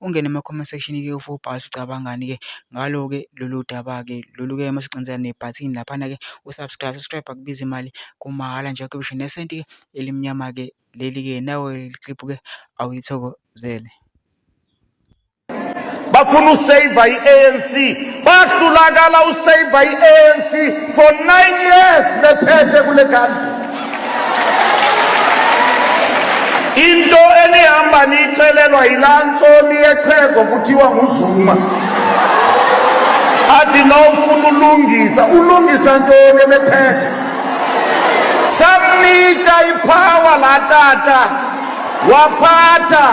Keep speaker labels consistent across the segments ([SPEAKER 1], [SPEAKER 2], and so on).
[SPEAKER 1] ungene ema-comment section ke for ubhale ucabangani ke ngalo ke lolu daba ke lolu ke masiqiniseka nebhathini laphana ke usubscribe subscribe akubiza imali kumahhala nje akhe bisho nesenti ke elimnyama ke leli ke nawe clip ke awuyithokozele
[SPEAKER 2] bafuna usaver i-anc Kwatulakala uSaver i-ANC for nine years bephethe kule kanti. Into enihamba niyixelelwa yilaa ntsomi yexhego kuthiwa nguZuma. Athi nofuna ulungisa, ulungisa ntoni ebephethe? Samnika iphawa laa tata waphatha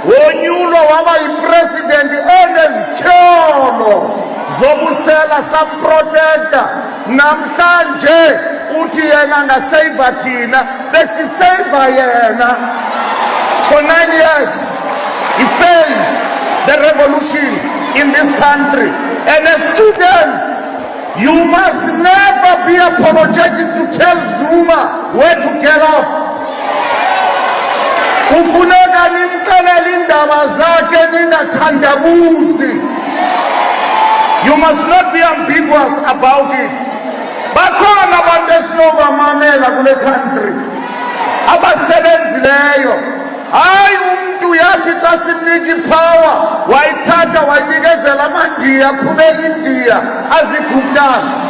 [SPEAKER 2] wonyulwa waba yipresidenti enezityholo zobusela samprotekta namhlanje uthi yena ngaseyiva thina besiseyiva yena for nine years he failed the revolution in this country and as students You must never be apologetic to tell Zuma where to get off. Ufuneka nimxelele indaba zakhe ningathandabuzi. You must not be ambiguous about it. Bakhona abantu esinobamamela kule country abasebenzileyo Hayi umntu uyathi xa sinika iphawa wayithatha wayinikezela amandiya khube indiya aziguptasi